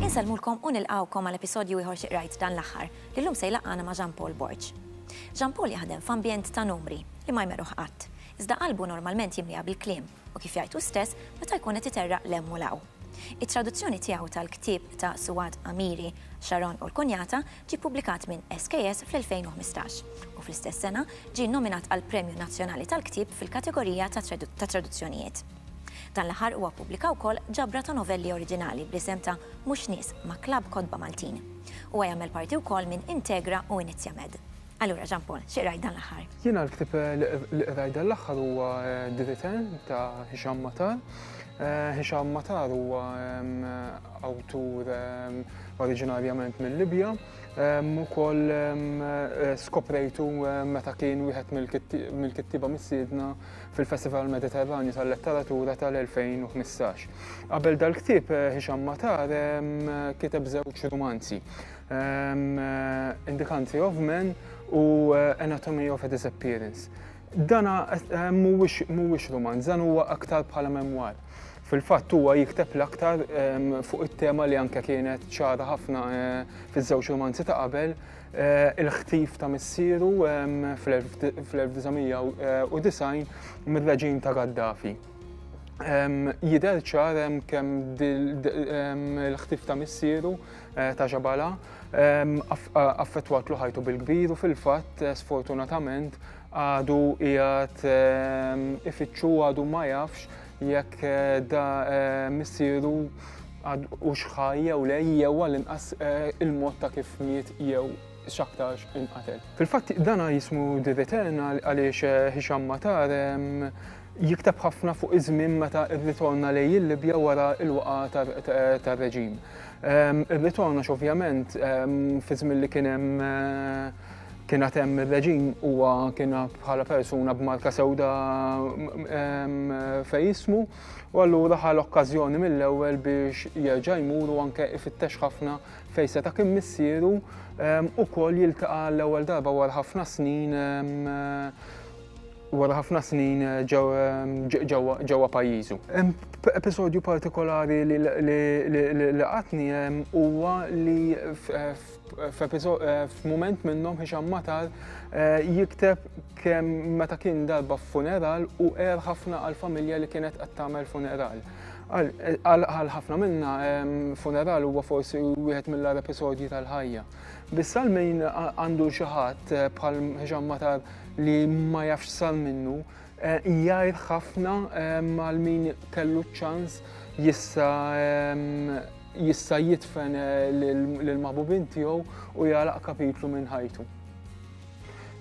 Insellmulkom u nilqgħukom għal episodju ieħor Xi Qrajt Dan l-Aħħar, li llum se jlaqqagħna ma' Jean Paul Borg. Jean Paul jaħdem f'ambjent ta' numri li ma jmerruh qatt, iżda qalbu normalment jimliha bil-kliem u kif jgħid hu stess, meta jkun qed iterraq 'l hemm u 'l hawn. It-traduzzjoni tiegħu tal-ktieb ta' Suad Amiri, Sharon u l-Kunjata ġie ppubblikat minn SKS fl-2015, u fl-istess sena ġie nnominat għall-Premju Nazzjonali tal-Ktieb fil-kategorija tat-traduzzjonijiet. Dan l-aħħar huwa ppubblika wkoll ġabra ta' novelli oriġinali bl-isem ta' Mhux Nies ma' Klabb Kotba Maltin. Huwa jagħmel parti wkoll minn Integra u Inizjamed. Allura Jean Paul, xi qrajt dan l-aħħar? Jiena l-ktieb li qrajt dan l-aħħar huwa The Return ta' Hisham Matar. Eh, Hisham Matar huwa awtur oriġinarjament mill-Libja, ukoll eh, skoprejtu meta kien wieħed mill-kittiba missiedna fil-Festival Mediterranju tal-Letteratura tal-2015. Qabel dal-ktieb eh, Hisham Matar kiteb żewġ romanzi. Indikanti of Men u Anatomy of a Disappearance. Dana mhuwiex romanz, dan huwa aktar bħala memwar. Fil-fatt huwa jikteb l-aktar fuq it-tema li anke kienet ċara ħafna fiż-żewġ romanzi ta' qabel Eh, il-ħtif ta' missieru fl-1990 mir-reġim ta' Gaddafi. Jider ċar kemm il-ħtif ta' missieru Eh, ta' ġabala, affettwatlu ħajtu bil-kbir u fil-fatt eh, sfortunatament għadu jgħat ifittxu għadu ma jafx jekk eh, da missieru u xħaj jew lej jew għal-inqas il-mod ta' kif miet jew x'aktarx inqatel. Fil-fatt dana jismu Diveterna għaliex eh, Hisham Matar jiktab ħafna fuq iż-żmien meta rritorna lej il-Libja wara l-waqa tar-reġim. Irritorna x'ovvjament fi żmien li kien hemm eh, kien hemm ir-reġim huwa kien bħala persuna b'marka sewda fejn jismu u allura ħal okkażjoni mill-ewwel biex jerġa' jmur u anke ifittex ħafna fejn seta' kien missieru ukoll jiltaqa' l-ewwel darba wara ħafna snin wara ħafna snin ġewwa pajjiżu. Episodju partikolari li laqatni huwa li f'mument minnhom Hisham Matar jikteb kemm meta kien darba f'funeral u għer ħafna għall-familja li kienet qed tagħmel funeral. Għal ħafna minna, funeral huwa forsi wieħed mill-għar episodji tal-ħajja. Biss għal min għandu xi ħadd eh, bħal Ġan Matar li ma jafx sar minnu, eh, jgħid ħafna għal min kellu ċans jissa jista' jitfen eh, lil maħbubin tiegħu u jgħalaq kapitlu minn ħajtu.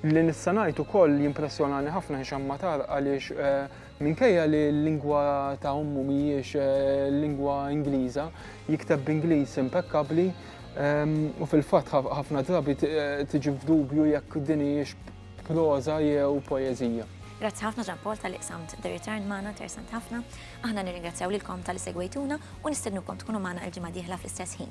Li nissanajtu koll jimpressjonani ħafna Ġan Matar għaliex Minkejja li l-lingwa ta' ommu mhijiex lingwa Ingliża, jikteb b'Ingliż impekkabbli u fil-fatt ħafna drabi tiġi f'dubju jekk din hijiex proża jew poeżija. Grazzi ħafna Jean Paul talli qsamt The Return magħna, interessanti ħafna. Aħna nirringrazzjaw lilkom talli segwejtuna u nistednukom tkunu magħna il-ġimgħa d-dieħla fl-istess ħin.